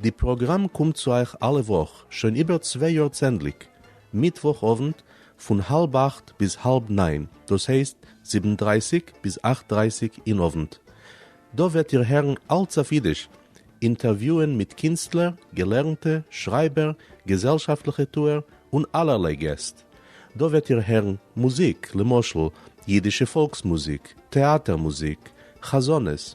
די פראגראם קומט צו אייך אלע וואך שוין איבער צוויי יאר צענדליג מיטוואך אוונט פון האלב אכט ביז האלב ניין דאס הייסט זיבן דרייסיג ביז אכט דרייסיג אין אוונט. דא וועט איר הערן אלץ אויף אידיש, אינטערוויוען מיט קינסטלער, געלערנטע, שרייבער, געזעלשאפטליכע טוער און אלערליי געסט. דא וועט איר הערן מוזיק למשל אידישע פאלקס מוזיק, טעאטער מוזיק, חזנות,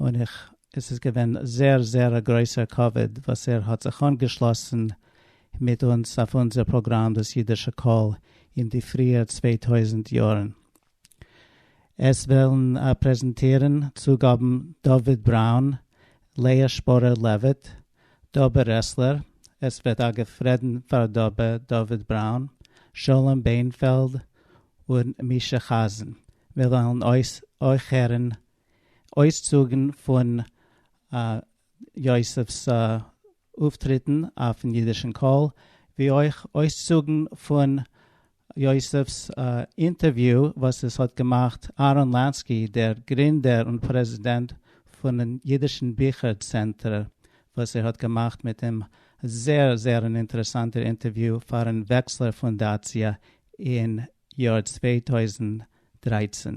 און איך עס איז געווען זעהר זעהר א גרויסער כבוד וואס ער האט זיך אנגעשלאסן מיט אונז אויף אונזער פראגראם דאס אידישע קול אין די פריער צוויי טויזנט יארן. עס וועלן פרעזענטירן צוגאבן דוד בראון, לאה שפורער לעוויט, דובה רעסלער, עס וועט אגב רעדן פאר דובה דוד בראון, שלום בענפעלד און מישא חזן, מיר וועלן אויך הערן אויסצוגן פון יוסף'ס אויפטריטן אויפן אידישן קול, ווי אויך אויסצוגן פון יוסף'ס אינטערוויו וואס עס האט געמאכט אהרן לאנסקי, דער גרינדער און פרעזידענט פונעם אידישן ביכער צענטער, וואס ער האט געמאכט מיט אים א זייער זייער אן אינטערעסאנטער אינטערוויו פארן וועקסלער פונדאציע אין יאר צוויי טויזנט דרײַצן.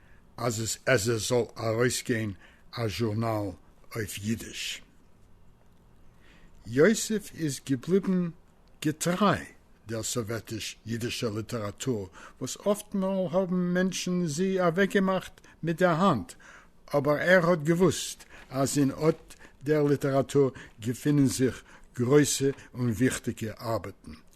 אז עס עס זאל ארויסגיין א זשורנאל אויף אידיש. יוסף איז געבליבן געטריי דער סאוועטיש אידישער ליטעראטור וואס אפטמאל האבן מענטשן זי אוועקגעמאכט מיט דער האנט, אבער ער האט געוואוסט אז אין אט דער ליטעראטור געפינען זיך גרויסע און וויכטיגע ארבעטן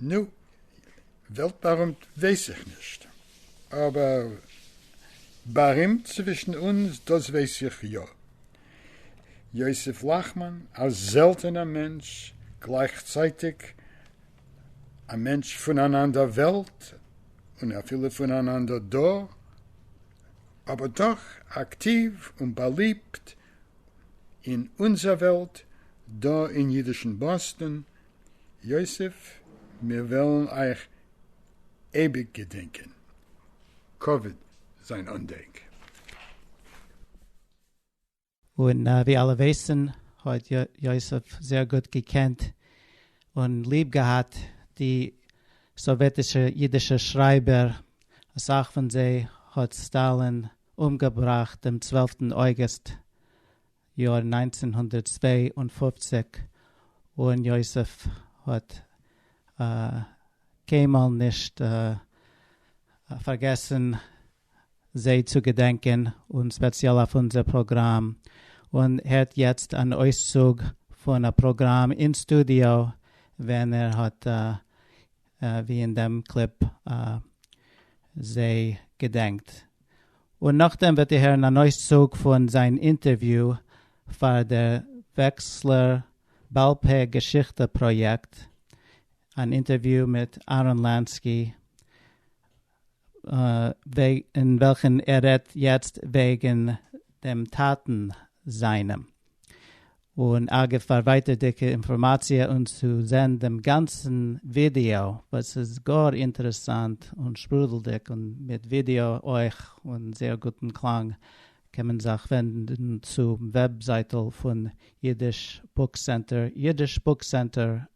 נו, וועלט-באַרימט ווייס איך נישט, אָבער באַרימט צווישן אונדז, דאָס ווייס איך יאָ, יוסף לאַכמאַן, אַ זעלטענער מענטש, גלײַכצײַטיק אַ מענטש פֿון אַן אַנדער וועלט און אַפֿילו פֿון אַן אַנדער דור, אָבער דאָך אַקטיוו און באַליבט אין אונזער וועלט דא אין אידישן באסטאן. יוסף מיר וועלן אייך אייביג געדענקען. כבוד זיין אנדענק. און ווי אלע ווייסן האט יוסף זייער גוט געקענט און ליב געהאט די סאוועטישע אידישע שרייבער, אסאך פון זיי האט סטאלין אומגעבראכט דעם צוועלפטן אויגוסט יאר נײַנצן הונדערט צוויי און פֿופֿציק, און יוסף האט קיינמאל נישט פארגעסן זיי צו געדענקען, און ספעציעל אויף אונזער פראגראם. און הערט יעצט אן אויסצוג פון א פראגראם אין סטודיאו ווען ער האט ווי אין דעם קליפ זיי געדענקט. און נאכדעם וועט איר הערן אן אויסצוג פון זיין אינטערוויו פאר דער וועקסלער בעל פה געשיכטע פראיעקט, אן אינטערוויו מיט אהרן לאנסקי. אין וועלכן ער רעדט יעצט וועגן דעם טאטן זיינעם. און אגב פאר ווייטערדיגע אינפארמאציע און צו זען דעם גאנצן ווידיאו וואס איז גאר אינטערעסאנט און שפרודלדיג און מיט ווידיאו אויך און זייער גוטן קלאנג קען מען זיך ווענדן צום וועבזייטל פון אידיש בוק סענטער, jiddish book center.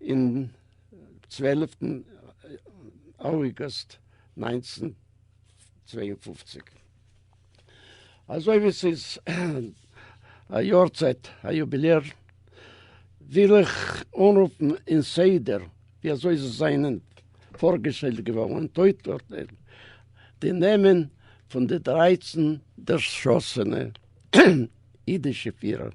אין צוועלעפטן אויגוסט נײַנצן צוויי און פֿופֿציק. אזוי ווי ס'איז א יארצייט א יוביליער, וויל איך אנרופן אין סדר ווי אזוי זיי זענען פארגעשטעלט געווארן און אויסצוטיילן די נעמען פון די דרײַצן דערשאסענע אידישע פירער.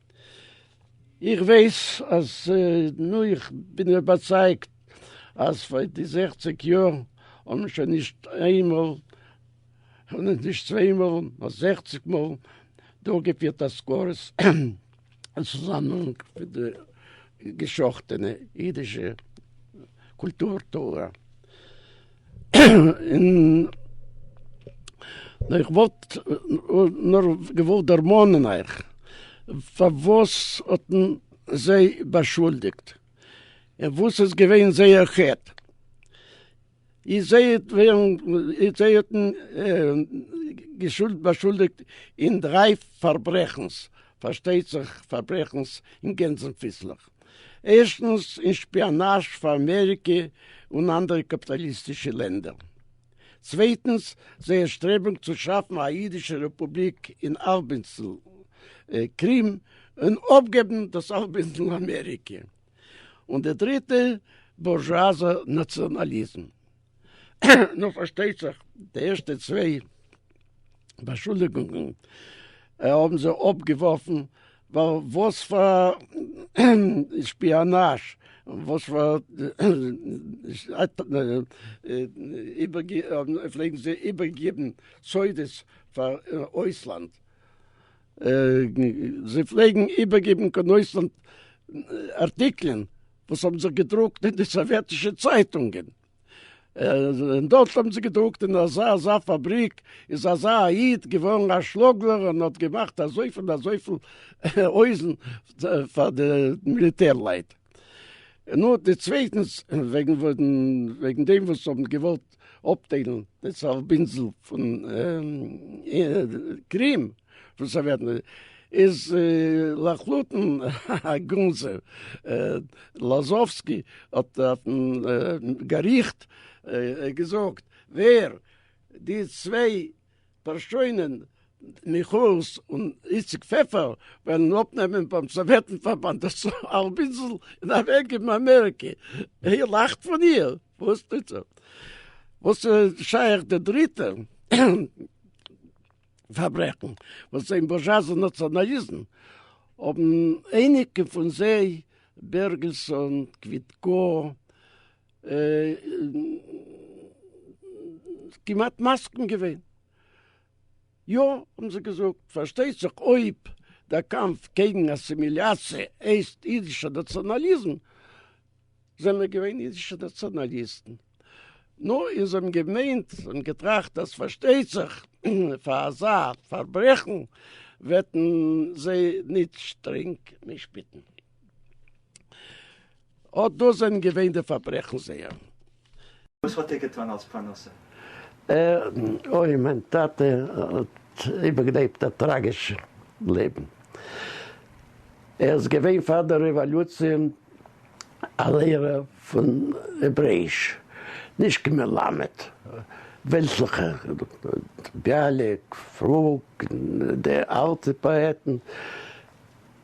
איך ווייס אז נו איך בין איבערצייגט אז פאר די זעכציג יאר האבן שוין נישט איין מאל און נישט צוויי מאל נאר זעכציג מאל דורכגעפירט אזכרות אין צוזאמהאנג מיט די גע'שחט'ענע אידישע קולטור תורה. איך וואלט נאר געוואלט דערמאנען אייך פארוואס האט מען זיי באשולדיגט און וואס איז געווען זייער חטא. זיי האבן באשולדיגט אין דריי פארברעכנס, פארשטייט זיך פארברעכנס אין גענזן פיסלעך. ערשטנס אין שפיאנאזש פאר אמעריקע און אנדערע קאפיטאליסטישע לענדער, צווייטנס זייער שטרעבונג צו שאפן א אידישע רעפובליק אין אלבאינסל קרים און אפגעבן דאס אלבאינסל אמעריקע, און די דריטע בורזשואזע נאציאנאליזם. נו פארשטייט זיך די ערשטע צוויי באשולדיגונגען האבן זיי אפגעווארפן ווייל וואס פאר שפיאנאזש וואס פאר פלעגן זיי איבערגעבן סודות פאר אויסלאנד זיי פלעגן איבערגעבן קיין אויסלאנד ארטיקלען וואס האבן זיך געדרוקט אין די סאוועטישע צייטונגען. און דארט האבן זיי געדרוקט אין אזא אזא פאבריק איז אזא א איד געווארן א שמוגלער און האט געמאכט אזויפיל און אזויפיל הויזן פאר די מיליטער לייט. נו, די צווייטנס וועגן וועגן דעם וואס האבן געוואלט אפטיילן די צהל בינדזל פון קרים פון סאוועטן איז לחלוטין א גנז. לאזאווסקי האט אויפן געריכט געזאגט ווער די צוויי פּאַרשױנען, מיכאָס און איציק פֿעפֿער, װעלן אָפּנעמען בײַם סאָװעטן-פֿאַרבאַנד דאָס האַלב אינדזל און אַװעקגעבן אַמעריקע. איר לאַכט פֿון איר? װאָס טוט זי? װאָס איז שײך די דריטע פֿאַרברעכן, װאָס אין בורזשואַזן נאַציאָנאַליזם האָבן אײניקע פֿון זײ, בערגעלסאָן, קװיטקאָ, כמעט מסכים געווען. יא האבן זיי געזאגט, פארשטייט זיך אויב דער קאמף קעגן אסימיליאציע הייסט אידישע נאציאנאליזם, זעמער געווען אידישע נאציאנאליסטן. נו, און זיי האבן געמיינט און געטראכט אז פארשטייט זיך פאר אזא פארברעכן וועטן זיי ניט שטרענג משפטן. אָט דאָס זענען געווען די פאַרברעכן זייערע. וואָס האָט ער געטאָן אַלס פּרנסה? אוי, מיין טאַטע האָט איבערגעלעבט אַ טראַגיש לעבן. ער איז געווען פאַר דער רעוואָלוציע אַ לערער פון העברעיש, נישט קיין מלמד, וועלטליכע ביאַליק, פלוג, די אַלטע פּאָעטן.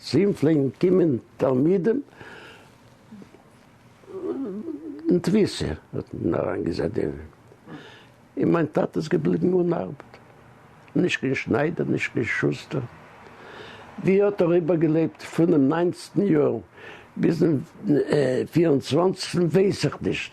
צו אים פלעגן קומען תלמידים אין תפיסה, האט מען אריינגעזעצט דעם אידן, און מיין טאטע איז געבליבן אן ארבעט, נישט קיין שניידער, נישט קיין שוסטער, ווי האט ער איבערגעלעבט פונעם ניינצטן יאר ביזן פיר און צוואנציגסטן ווייס איך נישט,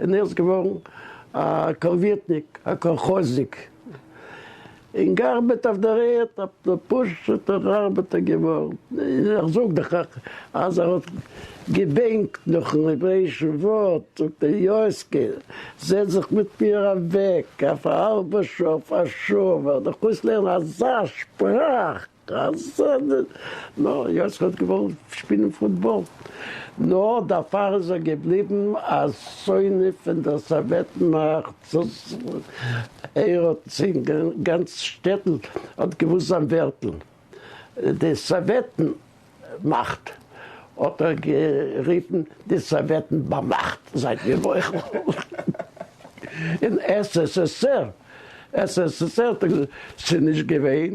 און ער איז געווארן א קאלווירטניק, א קאלכאזניק, און געארבעט אויף דער ערד, א פשוטער ארבעטער געווארן. און איך זאג דאך אז ער האט געבענקט נאכן העברעישן ווארט, זאגט ער, יוסקע, זעץ זיך מיט מיר אוועק אויף א האלבע שעה, אויף א שעה, וועל איך אויסלערנען אזא שפראך! חסד! נא, יוסף האט געוואלט שפילן פוטבאל, נאר דערפאר איז ער געבליבן א שונא פון דער סאוועט מאכט. ער האט זיין גאנץ שטעטל האט געוואוסט זיין ווערטל. די סאוועטן מאכט האט ער גערופן די סאוועטן באמאכט. זייט מיר מוחל. און ס ס ס ר, ס ס ס ר האט ער געזאגט, ס'איז נישט געווען.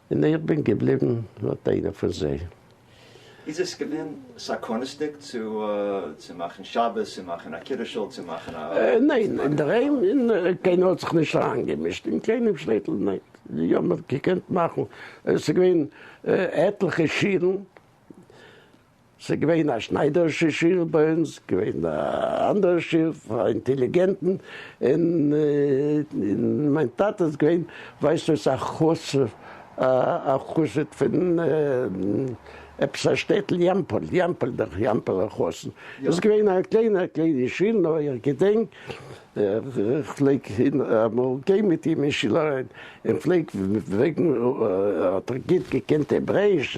און איך בין געבליבן, האט איינער פון זיי. איז עס געווען סכנות'דיג צו מאכן שבת, צו מאכן א קידוש'ל, צו מאכן א. ניין, אינדערהיים קיינער האט זיך נישט אריינגעמישט, אין קיינעם שטעטל נישט, יא מען האט געקענט מאכן, עס איז געווען עטליכע שירן. ס'איז געווען א שניידערישע שול ביי אונז, געווען א אנדערע שול פאר אינטעליגענטן, און מיין טאטע איז געווען ווייסט וואס א חסיד, א חסיד פון עפעס א שטעטל יאמפל, יאמפל דאך, יאמפלער חתן, איז געווען א קליינער קליינער שול, נאר איך געדענק. איך פלעג אמאל גיין מיט אים אין שול אריין, און פלעג פרעגן האט ער גוט געקענט העברעיש,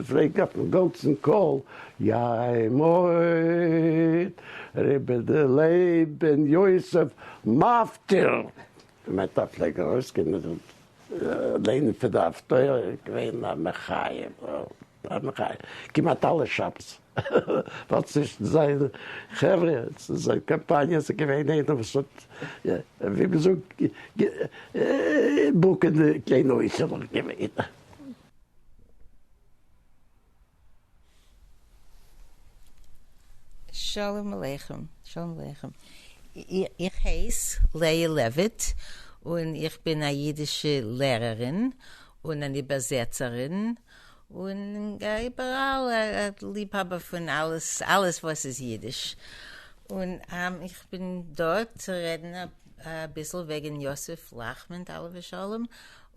פלעג אויפן גאנצן קול יי מוהט רבי ד לייב בן יוסף מפטיר, באמת א פלעג ארויסקומען לערנען פון די הפטורה, געווען א מחיה. כמעט אלע שבת ווייל צווישן זיין חברה צו זיין קאמפאניע איז געווען איינער וואס האט ווי מען זאגט געבאקען די קליינע אויסערלעך געווען. שלום עליכם, שלום עליכם, איך הייס לאה לעוויט און איך בין א אידישע לערערין און אן איבערזעצערין, און איבעראל ליבהאבער פון אלעס אלעס וואס איז אידיש, און איך בין דא צו רעדן אביסל וועגן יוסף לאכמענד עליו השלום,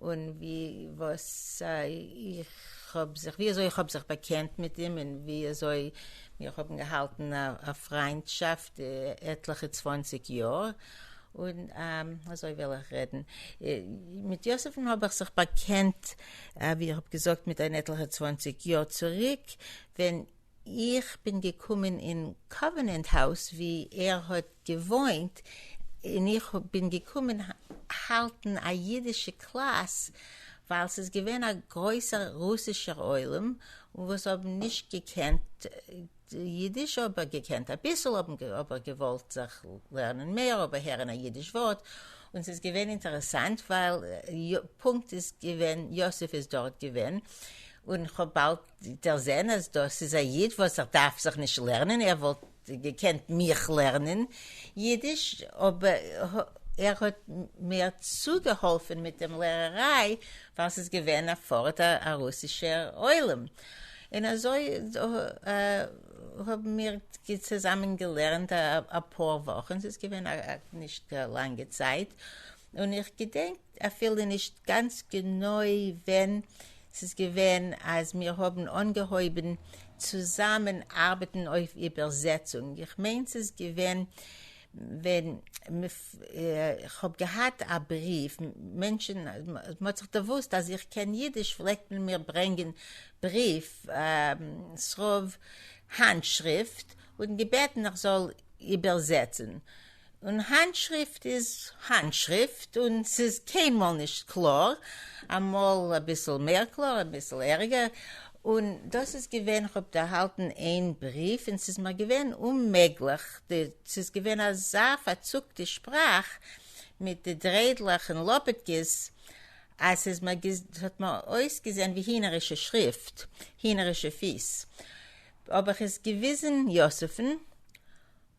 און ווי וואס איך האב זיך ווי אזוי איך האב זיך באקענט מיט אים, און ווי אזוי מיר האבן געהאלטן א פריינטשאפט עטליכע צוואנציג יאר, און אזוי וועל איך רעדן, מיט יוסף'ן האב איך זיך באקענט ווי איך האב געזאגט מיט אן עטליכע צוואנציג יאר צוריק ווען איך בין געקומען אין קאווענענט האוז ווי ער האט געוואוינט און איך בין געקומען האלטן א אידישע קלאס ווייל ס'איז געווען א גרויסער רוסישער עולם וואס האבן נישט געקענט יידיש אבער געקענט אביסל אבער געוואלט זיך לערנען מער אבער הערן א יידיש ווארט און ס'איז געווען אינטערעסאנט ווייל פונקט איז געווען יוסף איז דארט געווען און כ'האב באלד דערזען אז דאס איז א איד וואס ער דארף זיך נישט לערנען ער וואלט געקענט מיך לערנען יידיש אבער ער האט מיר צוגעהאלפן מיט דעם לערעריי ווייל ס'איז געווען א פארט א רוסישער עולם, און אזוי האבן מיר צוזאמען געלערנט אפאר וואכן, ס'איז געווען נישט א לאנגע צייט, און איך געדענק אפילו נישט גאנץ גענוי ווען ס'איז געווען אז מיר האבן אנגעהויבן צוזאמען ארבעטן אויף איבערזעצונג, איך מיין ס'איז געווען ווען איך האב געהאט א בריוו, מענטשן, מ'האט זיך דערוואוסט אז איך קען אידיש פלעגט מען מיר ברענגען בריוו, ס'רוב האנט שריפט, און געבעטן איך זאל איבערזעצן. און האנט שריפט איז האנט שריפט, און ס'איז קיינמאל נישט קלאר, אמאל אביסל מער קלאר אביסל ערגער, און דאס איז געווען, איך האב ערהאלטן איין בריוו און ס'איז מיר געווען אוממעגליך, ס'איז געווען אַזאַ פֿאַרצוקטע שפּראַך מיט די דריידלעך און לאָפּעטקעס, אַז ס'איז מיר גע ס'האָט מיר אויסגעזען ווי הינערישע שריפֿט, הינערישע פֿיס. האָב איך עס געוויזן יוספֿן,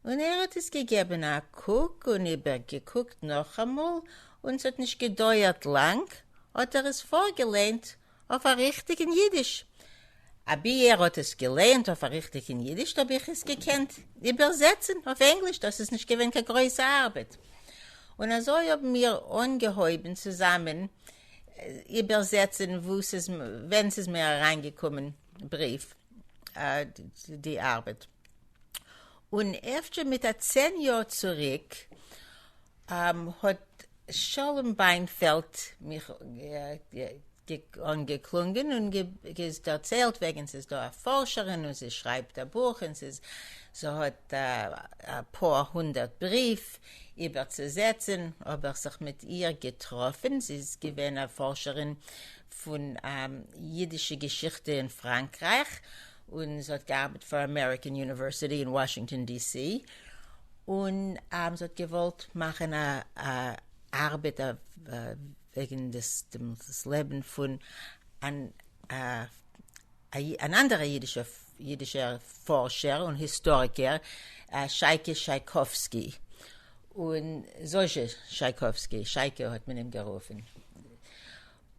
און ער האָט עס געגעבן אַ קוק און איבערגעקוקט נאָכאַמאָל, און ס'האָט נישט געדויערט לאַנג, האָט ער עס פֿאָרגעלייענט אויף א ריכטיגן אידיש. אבי ער האט עס געלייענט אויף א ריכטיגן אידיש האב איך עס געקענט איבערזעצן אויף ענגליש, דאס איז נישט געווען קיין גרויסע ארבעט. און אזוי האבן מיר אנגעהויבן צוזאמען איבערזעצן וואו ס'איז ווען ס'איז מיר אריינגעקומען בריוו די ארבעט. און אפשר מיט א צען יאר צוריק האָט שלום בײנפֿעלד מיך אָנגעקלונגען און דערצײלט װעגן, ס'איז דאָ אַ פֿאָרשערין און זי שרײַבט אַ בוך און ס'איז זי האָט אַ פּאָר הונדערט בריװ איבערצוזעצן. האָב איך זיך מיט איר געטראָפֿן. זי איז געװען אַ פֿאָרשערין פֿון ייִדישע געשיכטע אין פֿראַנקרײַך און זי האט געארבעט פאר אמעריקען יוניווערסיטי אין וואשינגטאן די סי, און זי האט געוואלט מאכן א ארבעט וועגן דאס לעבן פון אן אנדערע אידישע פארשער און היסטאריקער, שייקע שייקאווסקי, און זושע שייקאווסקי, שייקע האט מען אים גערופן.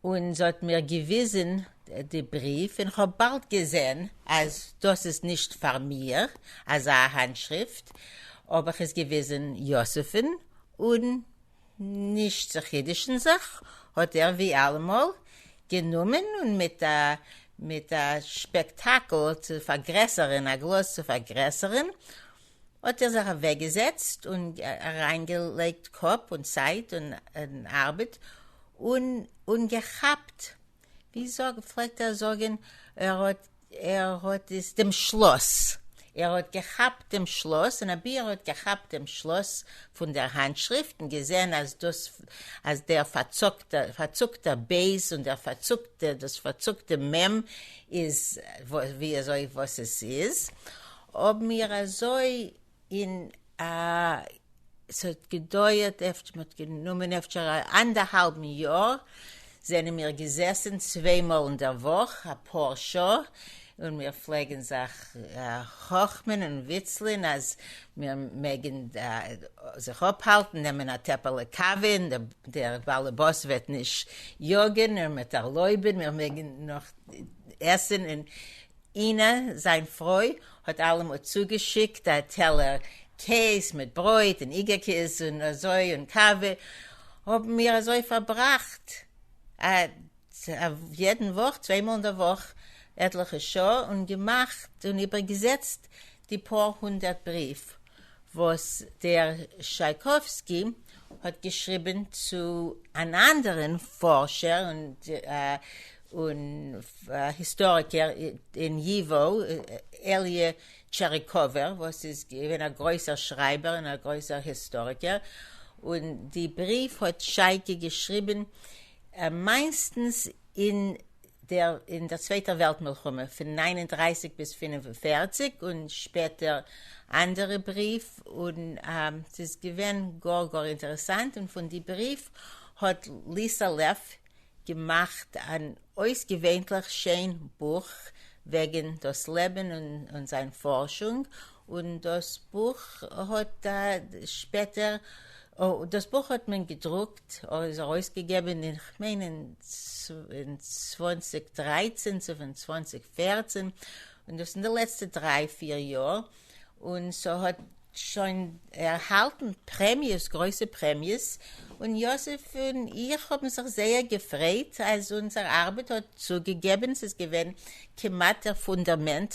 און זי האט מיר געוויזען די בריוו און כ'האב באלד געזען אז דאס איז נישט פאר מיר אזא האנטשריפט, האב איך עס געוויזען יוסף'ן און נישט צו חידוש'ן זיך האט ער ווי אלעמאל גענומען און מיט א מיט א שפעקטאקל צו פארגרעסערען א גלאז צו פארגרעסערען האט ער זיך אוועק געזעצט און אריין געלייגט קאפ און צייט און ארבעט און און געכאפט ווי זאג פלעגט ער זאגען ער האט ער האט עס דעם שלאס ער האט געכאפט דעם שלאס און אבי ער האט געכאפט דעם שלאס פון דער האנטשריפט און געזעהן אז דאס אז דער פארצוקט פארצוקטער בית און דער פארצוקטע דאס פארצוקטע מ' איז ווי אזוי וואס עס איז האבן מיר אזוי אין א. ס'האט געדויערט אפט מ'האט גענומען אפשר א אנדערהאלבן יאר, זענען מיר געזעסן צוויי מאל אין דער וואך א פאר שעה, און מיר פלעגן זיך חכמ'ען און וויצלען אז מיר מעגן זיך אפהאלטן, נעמען א טעפעלע קאווע און דער באלעבאס וועט נישט יאגען און מ'עט ערלויבען, מיר מעגן נאך עסען און. אינה, זיין פרוי, האט אלעמאל צוגעשיקט א טעלער קעז מיט ברויט און איגעקיס און אזוי און קאווע, האבן מיר אזוי פארבראכט א יעדן וואך, צוויי מאל אין דער וואך, עטליכע שעה און געמאכט און איבערגעזעצט די פאר הונדערט בריוו וואס דר. שייקאווסקי האט געשריבען צו אן אנדערען פארשער און היסטאריקער אין י ו, אלי' טשעריקאווער, וואס איז געווען א גרויסער שרייבער און א גרויסער היסטאריקער, און די בריוו האט שייקי געשריבען מיינסטענס אין דער אין דער צווייטער וועלט מלחמה פון נײַן און דרײַסיק ביז פֿינף און פֿערציק און שפעטער אנדערע בריוו און ס'איז געווען גאר גאר אינטערעסאנט און פון די בריוו האט ליסא לעף געמאכט אן אויסגעווענטליך שיין בוך וועגען דאס לעבען און זיין פארשונג און דאס בוך האט שפעטער, דאס בוך האט מען געדרוקט, איז ארויסגעגעבען אין כ'מיין אין צוואנציג דרייצען צו פון צוואנציג פערצען, און דאס אין די לעצטע דריי פיר יאר, און ס'האט שוין ערהאלטען פרעמיעס, גרויסע פרעמיעס, און יוסף און איך האבען זיך זייער געפרייט אז אונזער ארבעט האט צוגעגעבען, ס'איז געווען כמעט דער פונדערמענט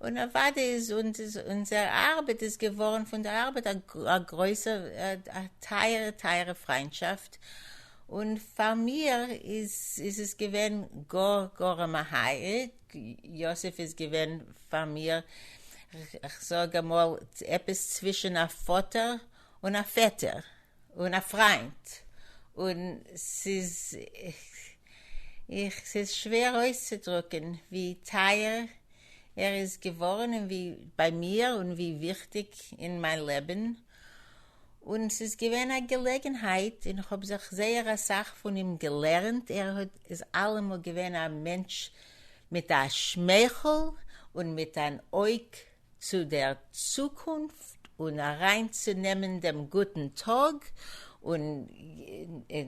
און אוודאי איז אונזער ארבעט איז געווארן פון דער ארבעט א גרויסע א טייערע טייערע פריינטשאפט, און פאר מיר איז עס געווען גאר גאר א מהי', יוסף איז געווען פאר מיר כ'זאג אמאל עפעס צווישן א פאטער און א פעטער. און א פריינט, און ס'איז איך ס'איז שווער אויסצודרוקען ווי טייער ער איז געווארען און ווי ביי מיר און ווי וויכטיג אין מיין לעבען, און ס'איז געווען א געלעגענהייט און כ'האב זיך זייער אסאך פון אים געלערענט, ער האט איז אלעמאל געווען א מענטש מיט א שמייכעל און מיט אן אויג צו דער צוקונפט און אריין צו נעמען דעם גוטן טאג און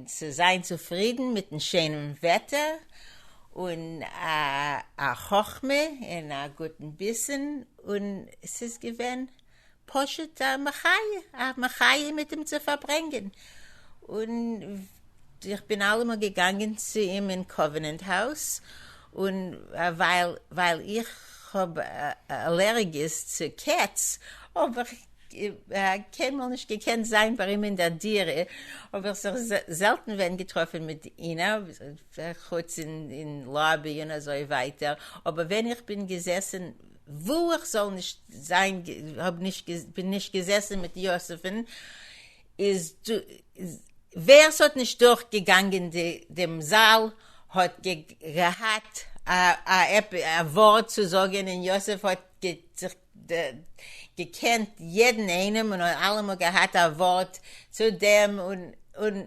צו זיין צופרידן מיטן שיינעם וועטער און א חכמה און א גוטן ביסן און ס'איז געווען פשוט א מחיה א מחיה מיט אים צו פארברענגען און איך בין אלעמאל געגאנגען צו אים אין קאווענענט האוז און ווייל איך האב אלערגיס צו קעץ האב איך קיינמאל נישט געקענט זיין ביי אים אין דער דירה, האב איך זיך זעלטן ווען געטראפן מיט איהם, חוץ אין לאבי און אזוי ווייטער, אבער ווען איך בין געזעסן וואו איך זאל נישט זיין, בין נישט געזעסן מיט יוסף'ן, איז. ווער ס'האט נישט דורך געגאנגען דעם זאל האט געהאט א ווארט צו זאגען און יוסף האט זיך געקענט יעדען איינעם און האט אלעמאל געהאט א ווארט צו דעם און און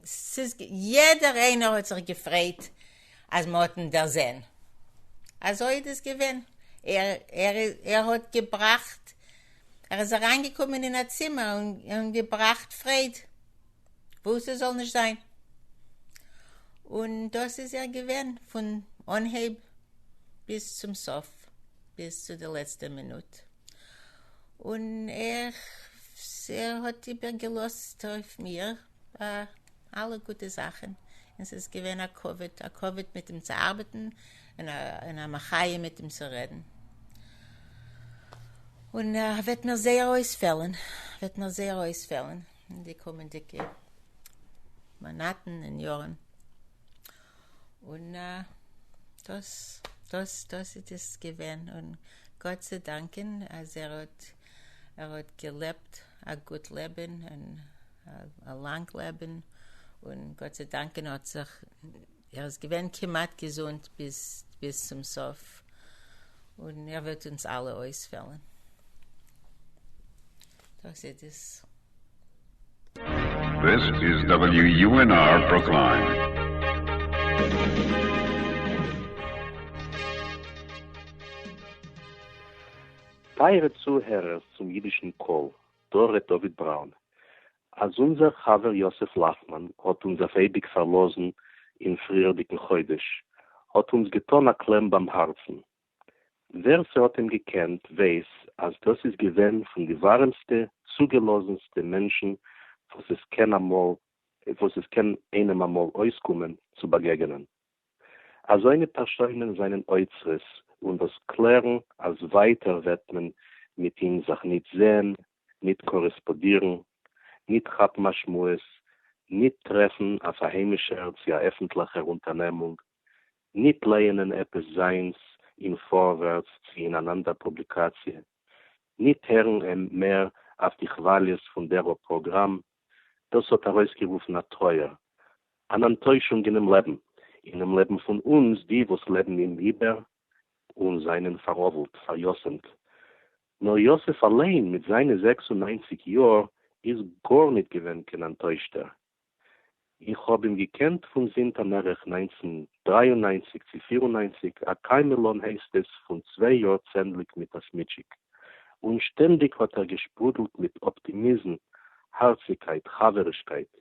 ס'איז יעדער איינער האט זיך געפרייט אַז מע האָט אים דערזען. אַזױ איז דאָס געװען. ער האָט געבראַכט. ער איז אַרײַנגעקומען אין אַ צימער און געבראַכט פֿרײד, װוּ סע זאָל נישט זײַן. און דאָס איז ער געװען פֿון אָנהײב ביז צום סוף, ביז צו דער לעצטער מינוט. און ער האָט איבערגעלאָזט אױף מיר. בה אלע גוטע זאכען און ס'איז געווען א כבוד, א כבוד מיט אים צו ארבעטען און א מחיה מיט אים צו רעדען. און וועט מיר זייער אויספעלען, וועט מיר זייער אויספעלען אין די קומענדיגע מאנאטען און יארען. און דאס דאס דאס איז דאס געווען, און גאט צו דאנקען אז ער האט ער האט געלעבט א גוט לעבען און. א לאנג לעבען און גאט זיי דאנקען האט זיך ער איז געווען כמעט געזונט ביז ביז צום סוף און ער וועט אונז אלע אויסוועלען דאס איז דאס. This is WUNR Brookline. טייערע צוהערערס צום אידישן קול, דא רעדט דוד בראון אז אונזער חבר יוסף לאכמאן האט אונז אויף אייביג פארלאזן אין פריערדיגן חודש האט אונז געטאן א קלעם ביים הארצן. ווער ס'האט אים געקענט ווייס אז דאס איז געווען פון די ווארעמסטע צוגעלאזנסטע מענטשן וואס עס קען איינעם אמאל אויסקומען צו באגעגענען. אזוינע פערשוינען זענען אוצרות און וואס קלערן אז ווייטער וועט מען מיט אים זיך ניט זעהן, ניט קארעספאדירן, ניט כאפן א שמועס, ניט טרעפן אויף א היימישער צי א עפענטליכער אונטערנעמונג, ניט לייענען עפעס זיינס אין פארווערטס צי אין אן אנדער פובליקאציע, ניט הערן אים מער אויף די כוואליעס פון דער א פראגראם, דאס האט ארויסגערופן א טרויער, אן אנטוישונג אינעם לעבן, אינעם לעבן פון אונז די וואס לעבן אים איבער און זענען פארוואלט, פאריאסעמט. נאר יוסף אליין מיט זיינע זעקס און ניינציג יאר איז גארניט געווען קיין אנטוישטער. איך האב אים געקענט פון זינט א מערך נײַנצן דרײַ און נײַנציק צו פֿיר און נײַנציק א קיימעלאן הייסט עס פון צוויי יאר צענדליג מיט א סמיטשיק און שטענדיג האט ער געשפרודלט מיט אפטימיזם הארציגקייט חברישקייט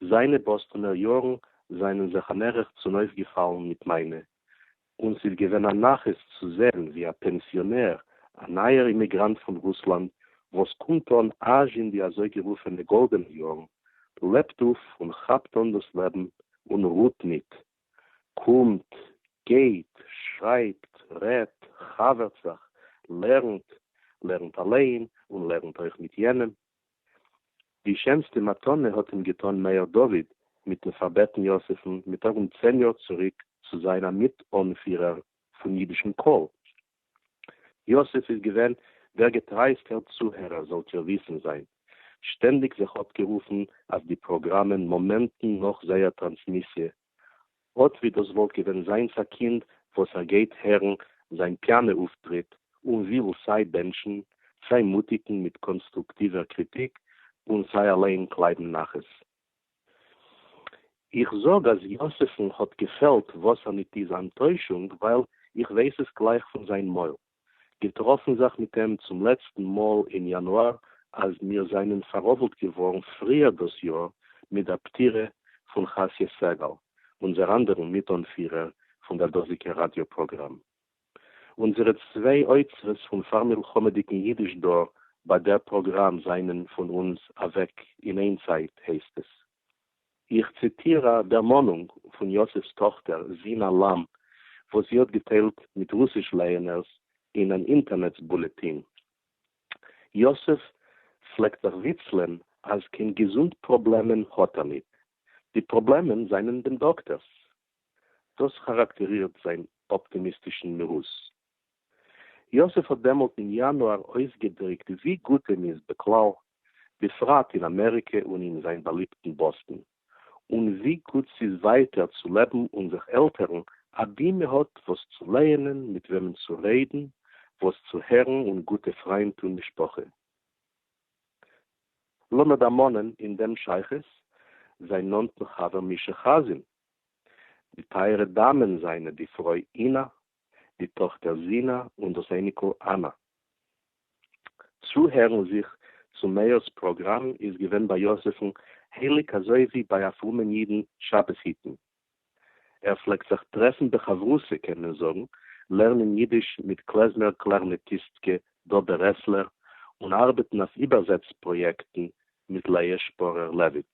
זיינע באסטאנער יארן זענען זיך א מערך צונויפגעפאלן מיט מיינע און ס'איז געווען א נחת צו זען ווי א פענסיאנער, א נייער אימיגראנט פון רוסלאנד וואס קומט אן אזש אין די אזויגערופענע גאלדענע יארן, לעבט אויף און כאפט אן דאס לעבן און רוהט ניט. קומט, גייט, שרייבט, רעדט, חבר'ט זיך, לערנט, לערנט אליין און לערנט אויך מיט יענעם, די שענסטע מתנה האט אים געטאן מאיר דוד מיטן פארבעטן יוסף'ן מיט ארום צען יאר צוריק צו זיין א מיט אנפירער פון אידישן קול. יוסף איז געווען דער געטרייעסטער צוהערער זאלט איר וויסן זיין שטענדיג זיך אפגערופן אויף די פראגראמען מאמענטן נאך זייער טראנסמיסיע אָט ווי דאָס וואָלט געווען זיינס אַ קינד, וואָס ער גייט הערן זיין פּיאַנע אויפֿטריט און וויל סיי בענטשן, סיי מוטיקן מיט קאָנסטרוקטיווער קריטיק און סיי אַליין קלייבן נחת. איך זאָג, אַז יוספֿן האָט געפֿעלט וואָסער-ניט-איז אַנטוישונג, ווייל איך ווייס עס גלייך פֿון זיין מויל. געטראפן זיך מיט אים צום לעצטן מאל אין יאנואר אז מיר זענען פאראבלט געווארן פריער דאס יאר מיט דער פטירה פון חת י סגל, אונזער אנדערן מיט-אנפירער פון דער דאזיגער ראדיא פראגראם. אונזערע צוויי אוצרות פון פאר-מלחמה'דיגן אידיש דא ביי דער פראגראם זענען פון אונז אוועק אין איין צייט, הייסט עס. איך ציטיר א דערמאנונג פון יוסף'ס טאכטער זינא לאם וואס זי האט געטיילט מיט רוסיש לייענערס אין אן אינטערנעץ בולעטין. יוסף פלעגט זיך וויצלען אז קיין געזונט פראבלעמען האט ער ניט, די פראבלעמען זענען דעם דאקטער'ס. דאס כאראקטערירט זיין אפטימיסטישן מהות. יוסף האט דעמאלט אין יאנואר אויסגעדריקט ווי גוט אים איז בכלל, בפרט אין אמעריקע און אין זיין באליבטן באסטן, און ווי גוט ס'איז ווייטער צו לעבן און זיך עלטערן אבי מ'האט וואס צו לייענען, מיט וועמען צו רעדן, וואס צו הערן און גוטע פריינט און משפחה. לאמיר דערמאנען אין דעם שייכות זיין נאנטן חבר מישא חאזין, די טייערע דאמען זיינע די פרוי אינה די טאָכטער זינאַ און דאָס אייניקל אַנאַ. צוהערן זיך צום מאירס פּראָגראַם איז געווען ביי יוזיפֿן הייליק אַזוי ווי ביי אַ פֿרומען ייִדן שבת היטן. ער פֿלעגט זיך טרעפֿן בחבֿרותא, קען מען זאָגן, לערנען ייִדיש מיט קלעזמער קלאַרנעטיסטקע דאָבע רעסלער און אַרבעטן אויף איבערזעץ-פּראָיעקטן מיט לאה שפּאָרער-לעוויט.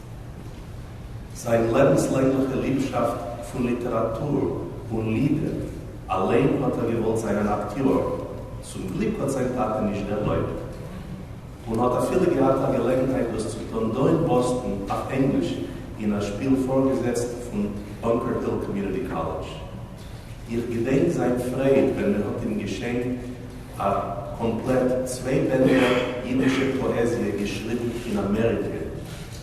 זיין לעבנסלענגליכע ליבשאפט פון ליטעראטור און לידער אליין האט ער געוואלט זיין אן אקטיאר, צום גליק האט זיין טאטע נישט דערלויבט, און האט אפילו געהאט א געלעגנהייט דאס צו טון דא אין באסטן אויף ענגליש אין א שפיל פארגעזעצט פון באנקער היל קאמיוניטי קאלעדזש. איך געדענק זיין פרייד ווען מען האט אים געשענקט. א קאמפלעט צוויי בענדער אידישע פאעזיע געשריבן אין אמעריקע,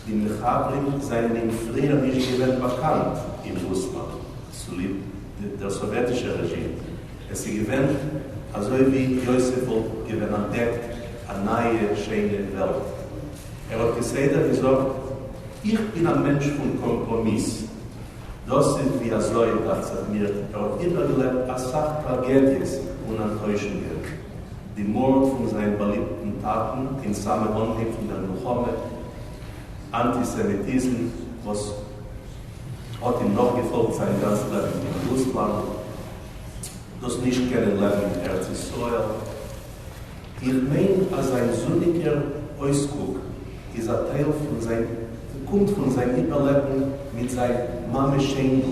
די מחברים זייענדינג פריער נישט געווען באקאנט אין רוסלאנד צוליב דער סאוועטישער רעזשים. עס איז געווען אזוי ווי יוסף וואלט געווען אנטדעקט א נייע שיינע וועלט. ער האט כסדר געזאגט, איך בין א מענטש פון קאמפראמיס, דאס איז ווי אזוי, דאכט זיך מיר, ער האט איבערגעלעבט אסאך טראגעדיעס און אנטוישונגען. די מארד פון זיין באליבטן טאטן אין סאמע אנהייב פון דער מלחמה, אנטיסעמיטיזם וואס האט אים נאכגעפאלגט זיין גאנץ לעבן אין רוסלאנד, דאס נישט קענען לעבן אין ארץ ישראל, איך מיין אז זיין זוניגער אויסקוק איז א טייל פון זיין קומט פון זיין איבערלעבן מיט זיין מאמע שיינדל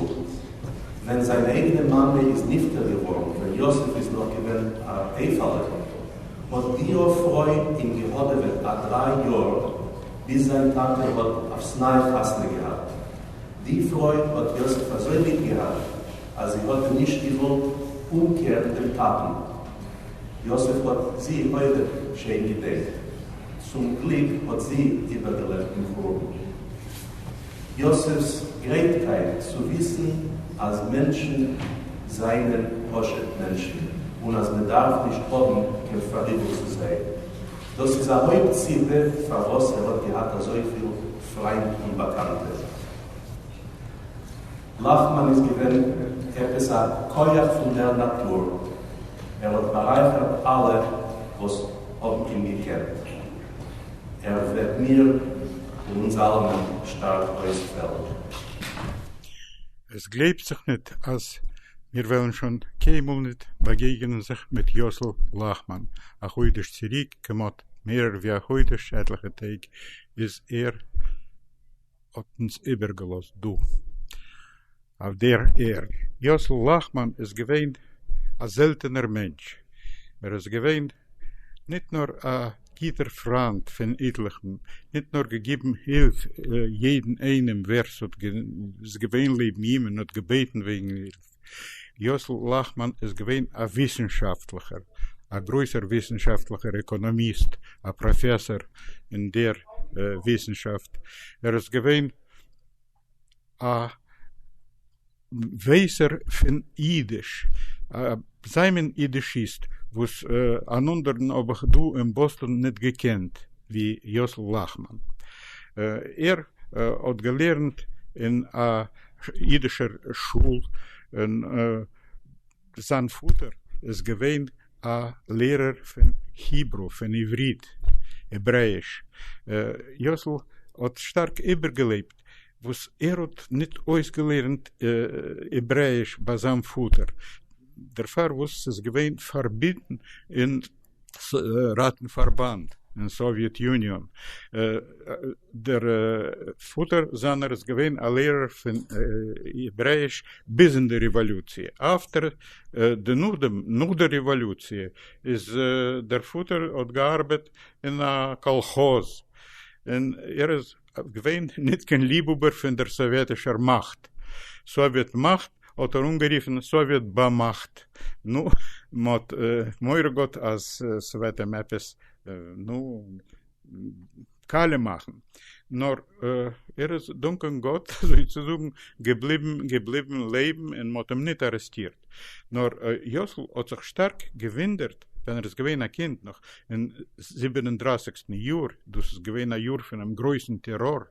ווען זיין אייגענע מאמע איז נפטר געווארן ווען יוסף איז נאך געווען א אייפעלע האט דיע פרוי אים געהאדעוועט א דריי יאר ביז זיין טאטע האט אויפס ניי חתונה געהאט די פרוי האט יוסף אזוי ליב געהאט אז זי האט אים נישט געוואלט אומקערן דעם טאטן. יוסף האט זי אויך שיין געדעקט, צום גליק האט זי איבערגעלעבט דעם חורבן. יוסף'ס גרייטקייט צו וויסן אז מענטשן זענען פשוט מענטשן און אז מען דארף נישט האבן קיין פאראיבל צו זיי, דאס איז א הויפט סיבה פארוואס ער האט געהאט אזויפיל פריינט און באקאנטע. נחמן איז געווען עפעס א כח פון דער נאטור, ער האט בארייכערט אלע וואס האבן אים געקענט. ער וועט מיר און אונז אלעמען שטארק אויספעלן. עס גלייבט זיך ניט אז מיר וועלן שוין קיינמאל ניט באגעגענען זיך מיט יאסל לאכמאן. א חודש צוריק, כמעט מערער ווי א חודש, עטליכע טעג, איז ער. האט אונז איבערגעלאזט דא אויף דער ערד. יוסל לאכמאן איז געווען א זעלטענער מענטש, ער איז געווען ניט נאר א גוטער פריינד פון איטליכן, ניט נאר געגעבן הילף יעדן איינעם ווער ס'האט געזען איז געווען לעבן אים און האט געבעטן וועגן הילף, יוסל לאכמאן איז געווען א וויסנשאפטליכער, א גרויסער וויסנשאפטליכער עקאנאמיסט, א פראפעסאר אין דער וויסנשאפט, ער איז געווען א ווייסער פון אידיש, א זיי מין אידישיסט, וואס אן אנדערן האב איך דא אין באסטאן ניט געקענט ווי יוסל לאכמאן. ער האט געלערנט אין א. אידישער שול און זיין פאטער איז געווען א לערער פון היברו, פון עברית, העברעיש, יוסל האט שטארק איבערגעלעבט וואס ער האט ניט אויסגעלערנט העברעיש ביי זיין פאטער דערפאר וואס ס'איז געווען פארביטן אין. ראטן-פארבאנד אין סאוויעט יוניאן. דער פאטער זיינער איז געווען א לערער פון העברעיש ביז אין די רעוואלוציע. אפטער די נאכדעם נאך די רעוואלוציע איז דער פאטער האט געארבעט אין א קאלכאז און ער איז. געווען ניט קיין ליבהאָבער פֿון דער סאָוועטישער מאַכט. סאָוועט מאַכט האָט ער אָנגערופֿן סאָוועט באַמאַכט. נו, מע האָט מורא געהאָט, אַז ס'וועט אים עפּעס, נו, קאַלע מאַכן. נאָר ער איז, דאַנקען גאָט, אַזוי צו זאָגן, געבליבן, געבליבן לעבן און מע האָט אים ניט אַרעסטירט. נאָר יאָסל האָט זיך שטאַרק געוווּנדערט, ווען ער איז געווען א קינד נאך אין זיבן און דרייסיגסטן יאר, דאס איז געווען א יאר פונעם גרויסן טעראר,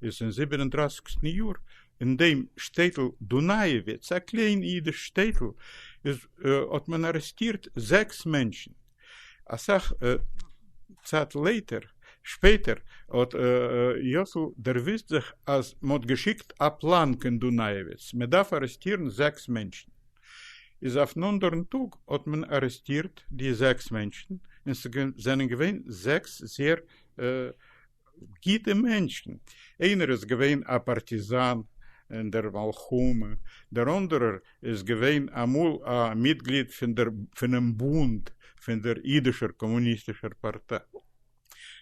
איז אין זיבן און דרייסיגסטן יאר אין דעם שטעטל דונאיעוויץ, א קליין אידיש שטעטל, איז האט מען ארעסטירט זעקס מענטשן, אסאך צייט לעיטער, שפעטער, האט יאסל דערוויסט זיך אז מען האט געשיקט א פלאן קיין דונאיעוויץ, מען דארף ארעסטירן זעקס מענטשן. געשעפט, איז אויפן אנדערן טאג האט מען ארעסטירט די זעקס מענטשן, און ס'זענען געווען זעקס זייער גוטע מענטשן, איינער איז געווען א פארטיזאן אין דער מלחמה, דער אנדערער איז געווען אמאל א מיטגליד פונעם בונד פון דער אידישער קאמוניסטישער פארטיי.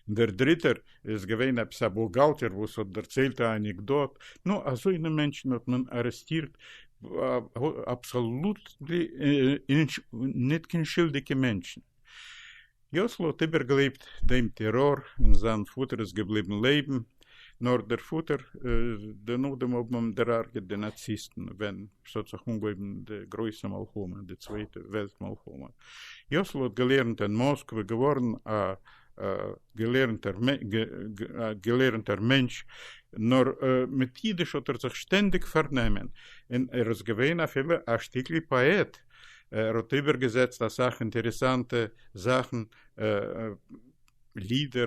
דער דריטער איז געווען עפעס א בוכגאלטער וואס האט דערציילט א אנעקדאט, נו, אזוינע מענטשן האט מען ארעסטירט, אבסאלוטלי ניט קיין שולדיגע מענטשן. יאסל האט איבערגעלעבט דעם טעראר, און זיין פאטער איז געבליבן לעבן, נאר דער פאטער, דערנאך דעם האבן אים דערהרגעט די נאציסטן ווען ס'האט זיך אנגעהויבן די גרויסע מלחמה, די צווייטע וועלט מלחמה. יאסל האט געלערנט אין מאסקווע, געווארן א געלערנטער מענטש, נאר מיט אידיש האט ער זיך שטענדיג פארנעמען, און ער איז געווען אפילו א שטיקל פאעט, ער האט איבערגעזעצט אסאך אינטערעסאנטע זאכן, לידער,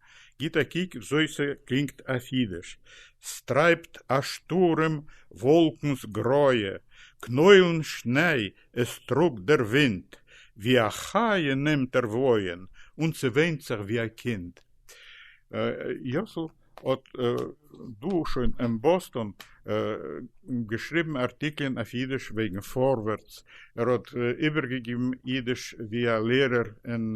גיט אַ קוק װוי סע קלינגט אויף ייִדיש, ס'טרײַבט אַ שטורעם װאָלקנס גרויע, קנוילן שניי עס טראָגט דער ווינט, וי אַ חיה נעמט ער װויען און ס'וויינט זיך װי אַ קינד. יאָסל האָט דאָ שוין אין באָסטאָן געשריבן אַרטיקלען אויף ייִדיש וועגן פֿאָרווערטס. ער האָט איבערגעגעבן ייִדיש װי אַ לערער אין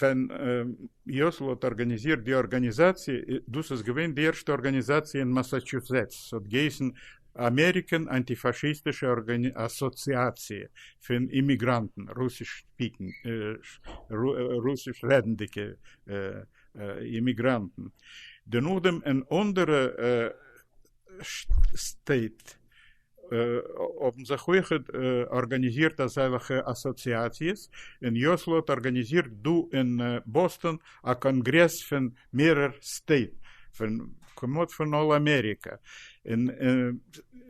ווען יוסל האט ארגאניזירט די ארגאניזאציע, דאס איז געווען די ערשטע ארגאניזאציע אין מאסאטשוסעטס, ס'האט געהייסן אמעריקען אנטיפאשיסטישע אסאציאציע פון אימיגראנטן, רוסיש רעדנדיגע אימיגראנטן, דערנאך דעם אין אנדערע סטעיט. האבן זיך אויך ארגאניזירט אזעלכע אסאציאציעס, און יאסל האט ארגאניזירט דא אין באסטאן א קאנגרעס פון מערער סטעיט, פון כמעט פון אל אמעריקע, און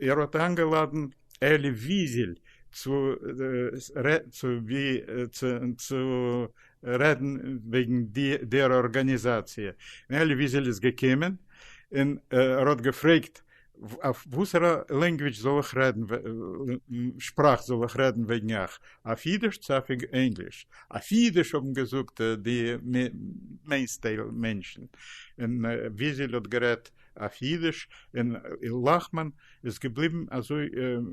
ער האט איינגעלאדענט אלי וויזעל צו רעדן וועגן דער ארגאניזאציע, און אלי וויזעל איז געקומען, און ער האט געפרעגט אויף וואסערע לענגוויטש זאל איך רעדן שפראך זאל איך רעדן וועגן איך? אויף אידיש צו אויף ענגליש? אויף אידיש האבן געזאגט די מעינסטייל מענטשן, און וויזעל האט גערעדט אויף אידיש, און לאכמאן איז געבליבן אזוי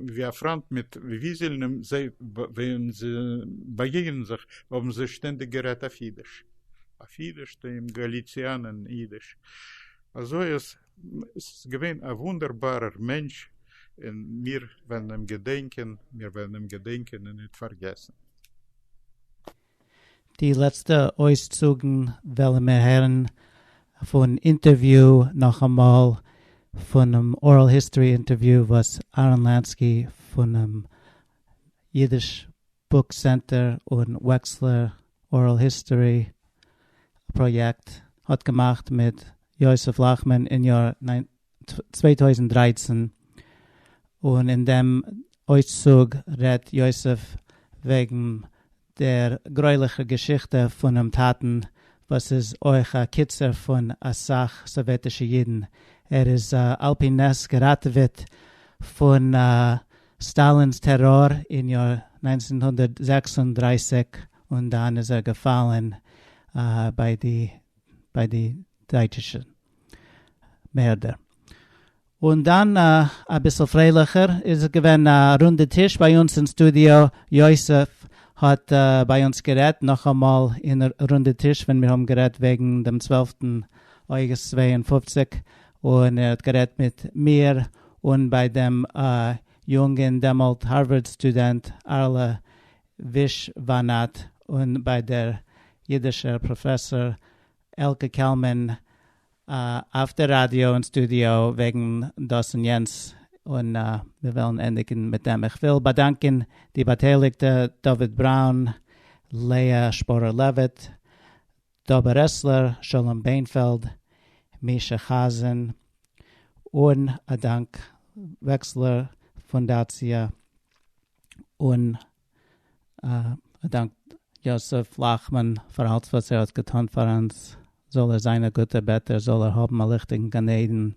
ווי א פריינט מיט וויזעל און זיי ווען זיי באגעגענען זיך האבן זיי שטענדיג גערעדט אויף אידיש, אויף אידיש, די גאליציאנען אידיש, אזוי אז. עס איז געווען א וואונדערבארער מענטש און מיר וועלן אים געדענקען, מיר וועלן אים געדענקען און ניט פארגעסן. די לעצטע אויסצוגן וועלן מיר הערן פון אינטערוויו נאכאמאל פונעם ארעל היסטארי אינטערוויו וואס אהרן לאנסקי פונעם אידיש. בוק סענטער און וועקסלער ארעל היסטארי פראיעקט האט געמאכט מיט יוסף לאכמאן אין יאר צוויי טויזנט דרײַצן, און אין דעם אויסצוג רעדט יוסף וועגן דער גרויליכער געשיכטע פונעם טאטן וואס איז אויך א קיצער פון אסאך סאוועטישע אידן, ער איז על פי נס געראטעוועט פון סטאלינ'ס טעראר אין יאר נײַנצן הונדערט זעקס און דרײַסיק און דאן איז ער געפאלן ביי די ביי די דייטשישע מערדער. און דאן אביסל פרייליכער איז געווען א רונדע טיש ביי אונז אין סטודיאו, יוסף האט ביי אונז גערעדט נאכאמאל אין רונדע טיש ווען מיר האבן גערעדט וועגן דעם צוועלפטן אוגוסט צוויי און פֿופֿציק און ער האט גערעדט מיט מיר און ביי דעם יונגען דעמאלט הארווארד סטודענט ארלה ווישוואנאט און ביי דער אידישער פראפעסאר עלקע קעלמען אויף דער ראדיא און סטודיאו וועגן דאס און יענץ און מיר וועלן ענדיגן מיט דעם. איך וויל באדאנקען די באטייליגטע דוד בראון, לאה שפורער לעוויט, דב ברסלר, שלום ביינפעלד, מישא חזן, און א דאנק וועקסלער פונדאציע, און א דאנק יוסף לאכמאן פאר אלץ וואס ער האט געטון פאר אונז, זאל ער זיין א גוטער בעטער, זאל ער האבן א ליכטיגן גן עדן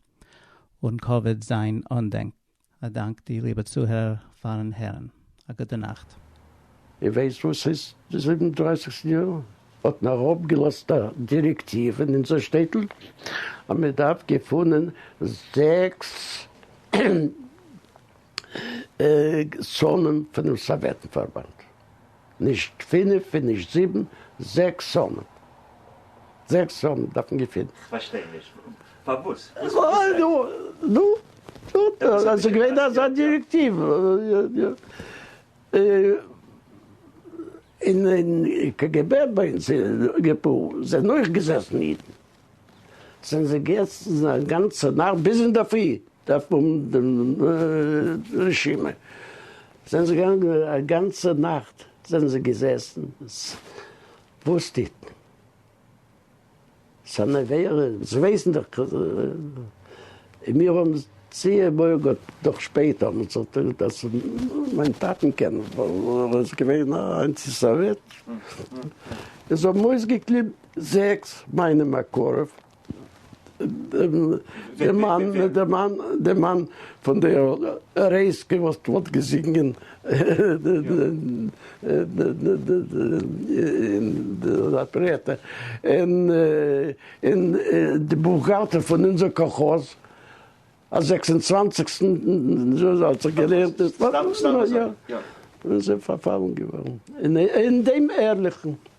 און קאוויד זיין אנדענק. א דאנק די ליבע צוהערער פארן הערן. א גוטע נאכט. איר ווייסט וואס איז די זיבן דרייסיגסטע יאר? האט מען אראפ געלאזט א דירעקטיוו אין אונזער שטעטל אז מען דארף געפונען זעקס זוהן פונעם סאוועטן פארבאנד. נישט פינף און נישט זיבן, זעקס הונדערט. זעקס הונדערט דארף מען געפינען. כ'פארשטיי נישט. פארוואס? נו, ס'איז געווען אזא דירעקטיוו. אין קגב ביי אונז אין געפאל זענען אויך געזעסן אידן. זענען זיי געזעצן א גאנצע נאכט ביז אינדערפרי דארף מען האבן דעם רשימה, זענען זיי געגאנגען א גאנצע נאכט זענען זיי געזעצן, וואס טוט מען? ס'אן עבירה, זיי ווייסן דאך, און מיר האבן צו מוהר ג דאך שפעטער האבן מיר זיך, אז מיין טאטן קען ווייל ער איז געווען א אנטי סאוועט, און זיי האבן אויסגעקליבן. זעקס, מיינע מקורב, די מאן, די מאן, די מאן פון די רייזקע וואס פלעגט געזינגען אין די אפערעטע, און און די בוכגאלטער פון אונזער קאלכאז, א זעקס און צוואנציגסטן האט זיך גערערט און זיי פארפאלן געווארן אין דעם ערליכן.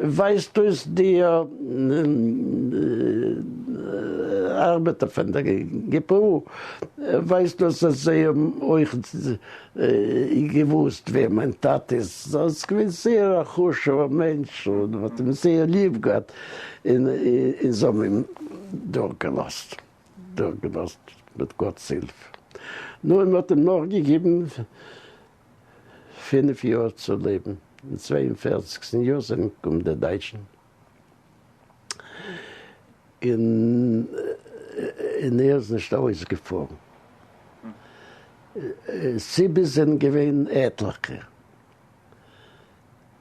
ווייזט אויס די ארבעטער פון די גפ א ווייזט אויס אז זיי האבן אויך געוואוסט ווער מיין טאטע איז, ער איז געווען זייער א חשוב'ער מענטש און מען האט אים זייער ליב געהאט און זיי האבן אים דורכגעלאזט דורכגעלאזט מיט גאט'ס הילף, נו און מען האט אים נאכגעגעבן פֿינף יאר צו לעבן אין צוויי און פֿערציקסטן יאר זענען געקומען די דייטשן און און ער איז נישט אויסגעפארן סיבות זענען געווען עטליכע.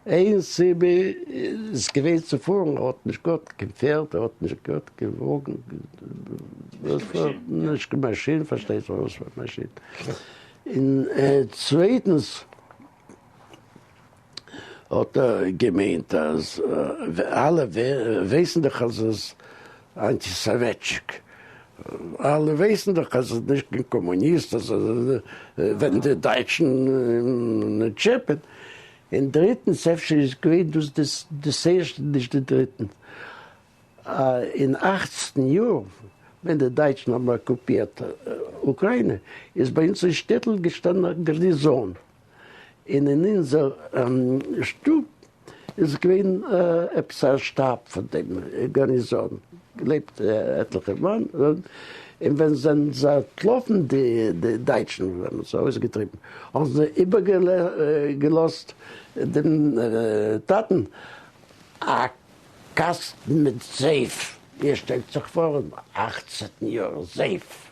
איין סיבה איז געווען צו פארן, ער האט נישט געהאט קיין פערד, ער האט נישט געהאט קיין וואגן, נישט קיין מאשין, פארשטייט זיך וואס פאר מאשין, און צווייטנס האט ער געמיינט אז אלע ווייסן דאך אז עס. אנטי סאוועטשיק, אלע ווייסן דאך אז עס איז נישט קיין קאמוניסט, אז עס איז ווען די דייטשן טשעפען, און דריטנס אפשר איז געווען דאס דאס ערשטע נישט די דריטן, אין אכצן יאר ווען די דייטשן האבן אקופירט אוקריינע איז ביי אונז אין שטעטל געשטאנען א גארניזאן, און אין אונזער שטוב איז געווען עפעס א שטאב פון דעם גארניזאן געלעבט עטליכע מאן און ווען זענען זיי אנטלאפן די דייטשן וואס האבן זיי אויסגעטריבן האבן זיי איבערגעלאזט דעם טאטן א קאסטן מיט זייף איר שטעלט זיך פאר און אכצן יאר זייף.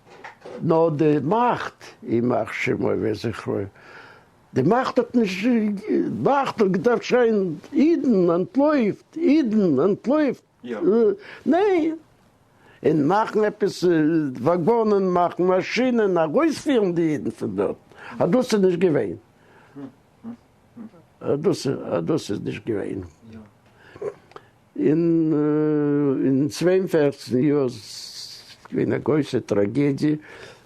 נאר די מאכט, ימח שמו וזכרו, די מאכט האט נישט מאכט האט געדארפט שרייען אידן אנטלויפט, אידן אנטלויפט, ניין! און מאכן עפעס וואגאנען, מאכן מאשינען, ארויספירן די אידן פון דארט, אז דאס איז נישט געווען, אז דאס איז נישט געווען. און אין צוויי און פֿערצן יאר איז געווען א גרויסע טראגעדיע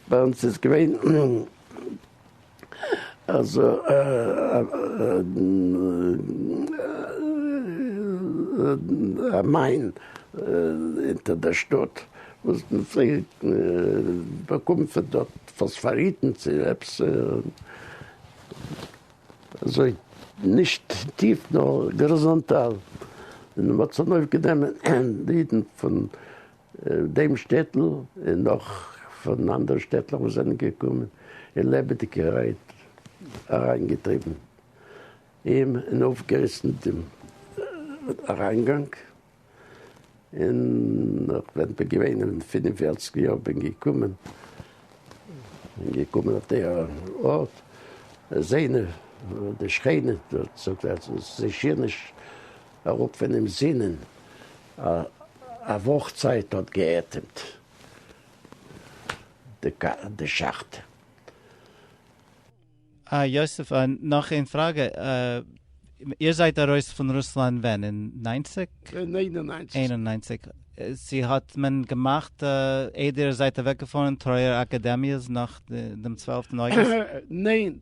ביי אונז איז געווען אז א מיין אונטער דער שטאט וואס מען פלעגט באקומען פון דארט פאספאריטן צו עפעס. אזוי נישט טיף נאר גאריזאנטאל, און מען האט צונויף גענומען די אידן פון דעם שטעטל און נאך פון אנדערע שטעטלעך וואס זענען געקומען און לעבעדיגערהייט אריין געטריבן אים און אויפגעריסן דעם אריינגאנג און ווען כ'בין געווען אין פֿינף און פֿערציק יאר בין געקומען בין געקומען אויף די ארט איז איינער די שכנים דארט זאגט ער זיי שיער נישט אראפ פונעם זינען א וואך צייט האט גע'אטעמט די שאכט. אה, יוסף, נאך איין פראגע, איר זייט ארויס פון רוסלאנד ווען? אין ניינציג? אין איין און ניינציג. איין און ניינציג. צו האט מען געמאכט איידער איר זייט אוועקגעפארן טרויער אקאדעמיעס נאך דעם צוועלפטן אוגוסט? ניין.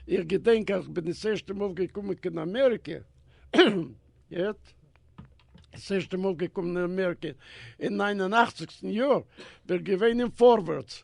איך געדענק אז כ'בין דאס ערשטע מאל געקומען קיין אמעריקע, גוט? דאס ערשטע מאל געקומען אין אמעריקע אין ניין און אכציגסטן יאר, בין איך געווען אין פארווערטס.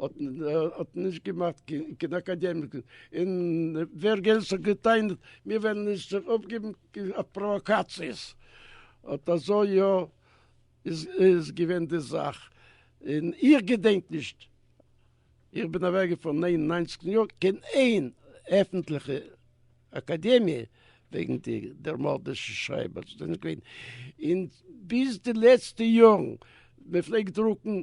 האט נישט געמאכט קיין אקאדעמיק און ווער גענז האט געטענה'ט מיר וועלן נישט זיך אויפגעבן אויף פראוואקאציעס אט אזוי יא איז געווען די זאך און איך געדענק נישט איך בין אוועק געפארן נײַן און נײַנציק יאר קיין איין עפענטליכע אקאדעמיע וועגן די דער מארדישע שרייבער ס'איז נישט געווען און ביז די לעצטע יארן מען פלעגט דרוקן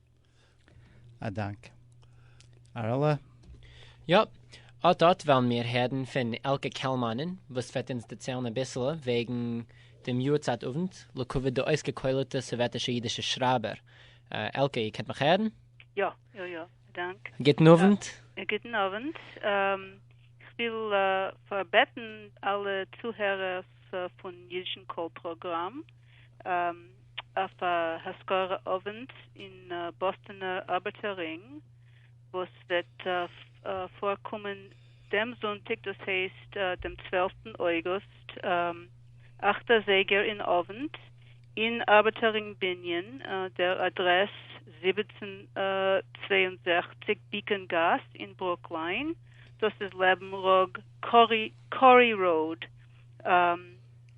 א דאנק אראלע. יאפ, אט אט וועלן מיר הערן פון עלקע קעלמאנען וואס וועט אונז דערציילן אביסל וועגן דעם יארצייט אוונט לכבוד די אויסגעקוילעטע סאוועטישע אידישע שרייבער. עלקע, איר קענט מיך הערן? יא יא יא, א דאנק. גוטן אוונט. גוטן אוונט. איך וויל פארבעטן אלע צוהערערס פון אידישן קול פראגראם. אויף א השכרה אווענט אין באסטאנער ארבעטער רינג וואס וועט פארקומען דעם זונטאג דאס הייסט דעם צוועלפטן אוגוסט אכט אזייגער אין אווענט אין ארבעטער רינג בנין דער אדרעס זיבעצן צוויי און זעכציק ביקען גאס אין ברוקליין דאס איז לעבן ראג קארי ראוד.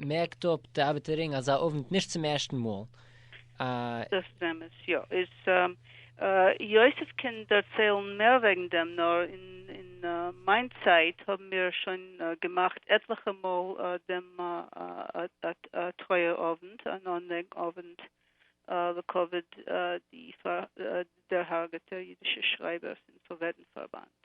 מערקט אפ די ארבעטערין אזא אוונט נישט צום ערשטן מאל, א. דאס איז אמת, יא. איז יוסף קען דערציילן מער וועגן דעם, נאר אין מיין צייט האבן מיר שוין געמאכט עטליכע מאל דעם א טרויער אוונט, אן אנדענק אוונט לכבוד די דערהארגעטע אידישע שרייבער פון סאוועטן פארבאנד.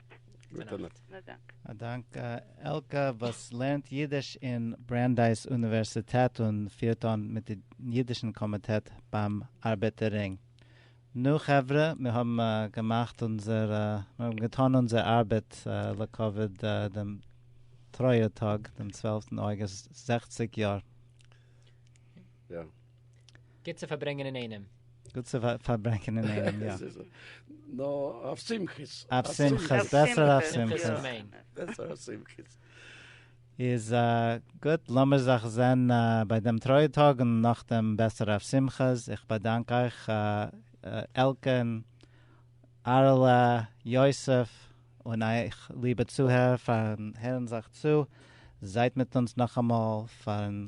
גוטע נאכט. א דאנק. א דאנק עלקע וואס לערנט אידיש אין ברענדייס אוניווערסיטעט און פירט אן מיט די אידישן קאמיטעט ביים ארבעטער רינג. נו חברה מיר האבן געמאכט אונזער מיר האבן געטאן אונזער ארבעט לכבוד דעם טרויער טאג דעם צוועלפטן אוגוסט זעכציק יאר. גוט צו פארברענגען אינאיינעם. גוט צו פארברענגען אינאיינעם, יא. נו, אויף שמחות. אויף שמחות, בעסער אויף שמחות. שמחות אמן. בעסער אויף שמחות. איז גוט, לאמיר זיך זען ביי דעם טרויער טאג און נאכדעם בעסער אויף שמחות. איך באדאנק אייך עלקען, אהרעלע, יוסף, און אייך ליבע צוהערער פארן הערן זיך צו. זייט מיט אונז נאכאמאל פארן.